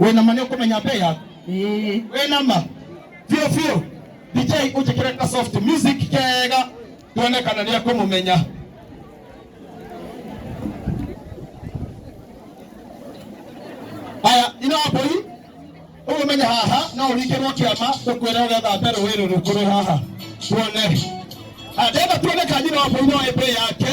wĩna ma nĩũkũmenya mbei yaku Ĩĩ. wĩna ma biũ biũ dj ũnjĩkĩre ka soft music kega tuone kana nĩ akũmũmenya haya ino mbũri ũgũmenya haha no ũringĩrwo kĩama tũkwĩre ũgethambe rũĩ rũrũ kũrĩ haha tuone Ah, ndĩrenda tuone kanyina wa mbũri no ĩmbĩ yake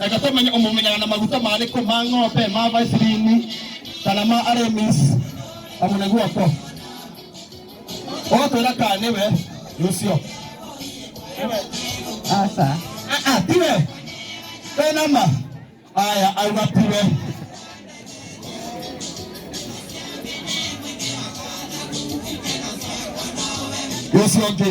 reke tũmenye ũmũmenyaga na maguta marĩkũ ma ng'ombe ma vasilini kana ma aremis kamũne guoko ũgatwĩra kaa nĩwe rũcio aca aa tiwe wenama aya auga tiwe rũcio ũngĩ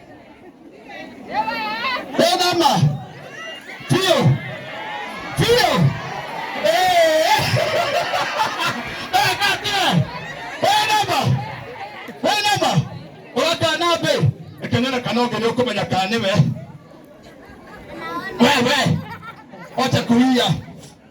Rĩthama. Biũ. Biũ. Eh. Eka atĩa? Rĩthama. Rĩthama. Ũratana mbĩ. Kenera kana ũngĩ nĩũkũmenya kana nĩwe. Wewe. Ocha kuhia.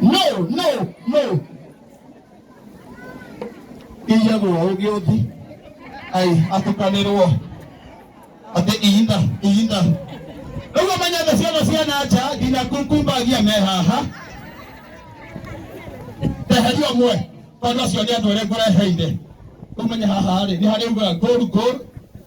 no no no iyagwo ũngĩ ũthi ai atukanĩrwo atĩ ihinda ihinda rĩu ũmenyete ciana cia na nja nginya kumbagia me haha teheria ũmwe tondũ acio nĩ andũ arĩa ngũreheire ũmenye haha rĩ nĩ harĩ uga ngũru ngũru